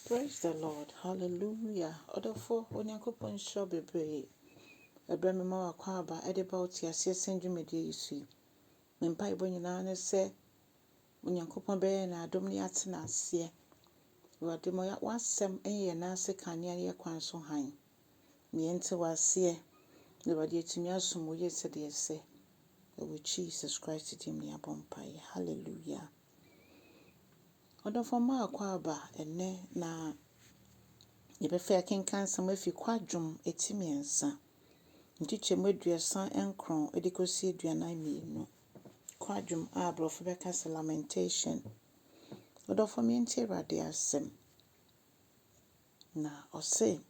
Praise the Lord hallelujah ɔdɔfoɔ Onyankopɔn nhyira wo bebree ɛberɛ mema w'akwaaba ɛde ba wo te aseɛ sɛn dwumadie yi so yi me mpaebɔ nyinaa ne sɛ Onyankopɔn bɛyɛ yɛn adom ne yɛatena aseɛ Awurade ma w'asɛm nyɛ yɛn nan ase kanea ne yɛn kwan so hann ma yɛnte w'aseɛ na Awurade yɛatumi asom wo yie sɛdeɛ ɛsɛ ɛwɔ Jesus Christ din mu ne yɛabɔ mpaeɛ hallelujah. Ɔdɔfoɔ Mark aba ɛnnɛ na yɛbɛfɛ akenkan nsɛm afi Kwadwom ti mmiɛnsa, nkyekyɛmu aduasa nkron de kɔsi aduanan mmienu. Kwadwom a aborɔfo bɛka sɛ lamentation. Ɔdɔfoɔ me yɛntie Awurade asɛm. Na ɔse,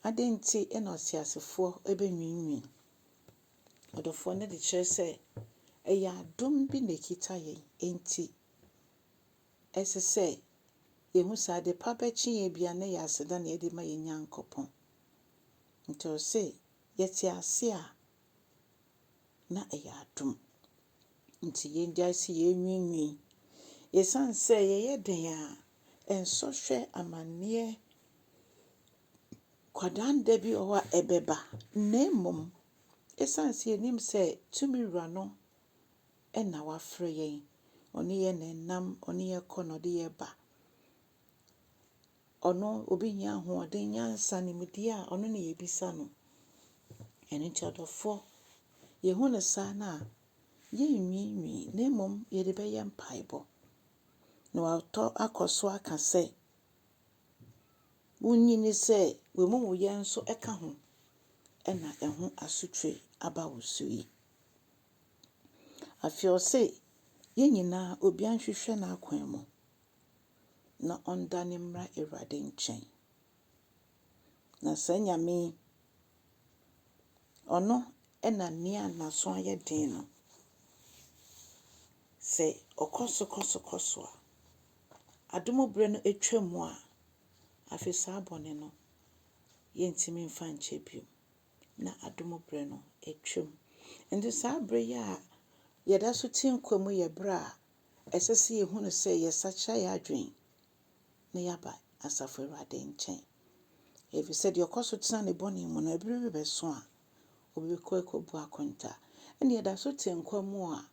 adɛn nti na ɔteasefoɔ bɛnwiinwii? Ɔdɔfoɔ no de kyerɛ sɛ ɛyɛ adom bi na ɛkita yɛn, enti Ɛsɛ sɛ yehu sɛ ade pa bɛkye yɛn biara no yɛ aseda na yɛde ma yɛn Nyankopɔn. Enti ɔse yɛte ase a, na ɛyɛ adom. Enti yengyae sɛ yɛrenwiinwii. Esiane sɛ yɛyɛ den a, nsɔhwɛ, amanneɛ, kwadaanda bi wɔ hɔ a ɛbɛba. Na mmom, esiane sɛ yenim sɛ tumi Wura no na wafrɛ yɛn, ɔne yɛn na ɛnam, ɔne yɛn kɔ na ɔde yɛn ba. Ɔno obi nyɛ ahoɔden, nyansa, nimdeɛ a ɔno na yɛbisa no. Ɛno nti ɔdɔfoɔ, yɛhu no saa no a, yɛnnwiinwii na mmom yɛde bɛyɛ mpaebɔ. Na watɔ akɔ so aka sɛ, wonyini sɛ w'amumuyɛ nso ka ho na ɛho asotwe aba wo so yi. Afei ɔse, Yɛn nyinaa, obiara nhwehwɛ n'akwan mu, na ɔndane mmra Awurade nkyɛn. Na saa Nyame yi, ɔno na nea n'aso ayɛ den no, sɛ ɔkɔ so kɔ so kɔ so a, adom berɛ no atwam a, afei saa bɔne no, yɛntumi mfa nkyɛ bio. na adom berɛ no atwam. Nti saa berɛ yi a yɛda so te nkwa mu yɛ berɛ a ɛsɛ sɛ yɛhunu sɛ yɛsakyera yɛn adwene na yɛaba Asafo Awurade nkyɛn. Ɛfiri sɛ deɛ ɔkɔ so tena ne bɔne mu no, ɛberɛ bi bɛso a ɔbɛkɔ akɔbu akonta. Ɛnna yɛda so te nkwa mu a,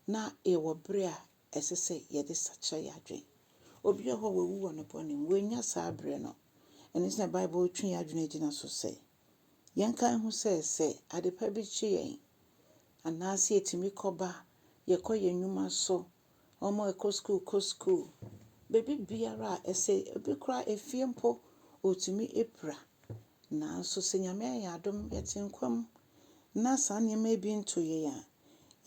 na yɛwɔ berɛ a ɛsɛ sɛ yɛde sakyera yɛn adwene. Obi wɔ hɔ a wawu wɔ ne bɔne mu, wannya saa bere no. Ɛno nti na Bible twe yɛn adwene gyina so sɛ, yɛnkae ho sɛ, sɛ adepa bi kye yɛn anaasɛ etumi kɔba, yɛkɔ yɛn nnwuma so, wɔn a ɛkɔ sukuu kɔ sukuu, baabi biara a ɛsɛ, ebi koraa efie mpo, otumi pira. Nanso sɛ Nyame ayɛ yɛn adom, yɛte nkwa mu na saa nneɛma yi bi nto yɛn a,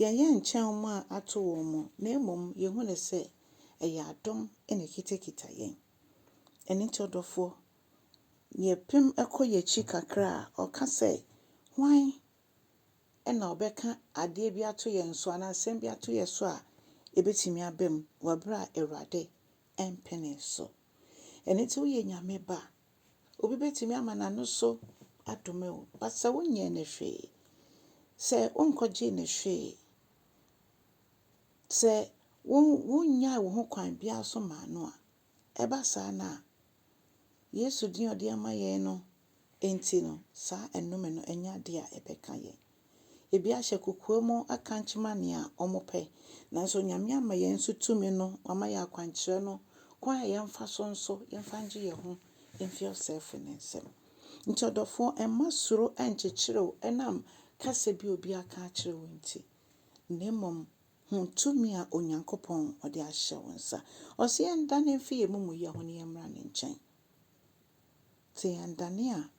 Yɛnyɛ nkyɛn wɔn a ato wɔn mu, na mmom yehu no sɛ ɛyɛ adom na ekitakita yɛn. Ɛno nti, ɔdɔfoɔ, yɛpem kɔ yɛn akyi kakra a, ɔka sɛ, Hwan na ɔbɛka adeɛ bi ato yɛn so anaa asɛm bi ato yɛn so a ɛbɛtumi aba mu wɔ berɛ a Awurade mpenee so? Ɛno nti, woyɛ Nyame Ba Obi bɛtumi ama n'ano so adome wo, but sɛ wonyɛɛ no hwee, sɛ wonkɔgyee no hwee, sɛ wonnyae wo ho kwan biara so maa no a, ɛba saa no a, Yesu din a ɔde ama yɛn no nti no, saa nnome no, ɛnyɛ adeɛ a ɛbɛka yɛn. Ebi ahyɛ kokoam aka nkyema nea wɔpɛ. Nanso Nyame ama yɛn nso tumi no, wama yɛn akwankyerɛ no, kwan a yɛmfa so nso yɛmfa ngye yɛn ho mfi ɔsɛefo no nsam. Nti ɔdɔfoɔ, mma suro nnkyekyere wo ɛnam kasa bi a obi aka akyerɛ wo nti, na mmom hu tumi a Onyankopɔn ɔde ahyɛ wo nsa. Ɔse yɛndane mfi yɛn amumuyɛ ho na yɛmmra ne nkyɛn. Te yɛn dane a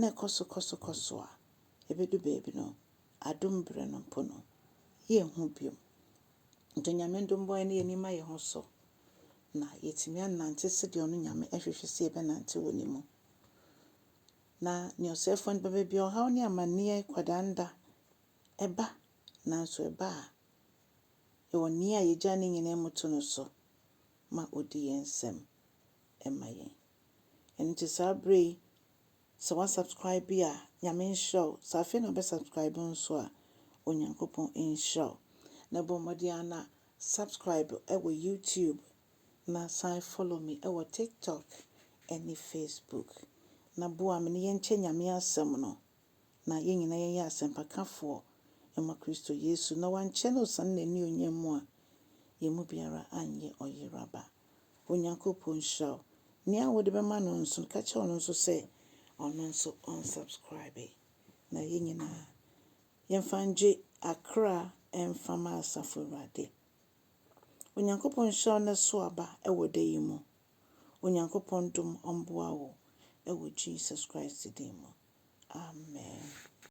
na ɛkɔ so kɔ so kɔ so a ɛbɛdu baabi no, adom berɛ no mpo no, yɛnhu bio. Nti Onyame dom bɔ yɛne yɛn ani ma yɛn ho so na yɛatumi anante sɛdeɛ ɔno Nyame hwehwɛ sɛ yɛbɛnante wɔ ne mu. Na nea ɔsɛefoɔ no ba baabi a ɔhaw ne amanneɛ kwadaanda ɛba, nanso ɛba a, yɛwɔ Nea yɛgyaa ne nyinaa mu to no so ma ɔdi yɛn nsam. ma yɛn. Ɛno nti saa berɛ yi sɛ wa subscribe a Nyame nhyira wo, sɛ afei na wobɛ subscribe nso a Onyankopɔn nhyira wo. Na bɔ mmɔden ara na subscribe wɔ YouTube na san follow me wɔ TikTok ne Facebook. Na boa me na yɛnkyɛ Nyame asɛm no na yɛn nyinaa yɛnyɛ asɛmpakafoɔ ma Kristo Yesu. Na wankyɛ na ɔsane n'anionyam mu a, yɛn mu biara anyɛ ɔyeraba. Onyankopɔn nhyira wo. Nea wode bɛma no nso no, ka kyerɛ ɔno nso sɛ ɔno nso ɔnsubscribe. Na yɛn nyinaa, yɛmfa ngye akra mfa ma Asafo Awurade. Onyankopɔn nhyira wo na so aba wɔ da yi mu. Onyankopɔn dom ɔmboa wo wɔ Jesus Christ din mu. Amen.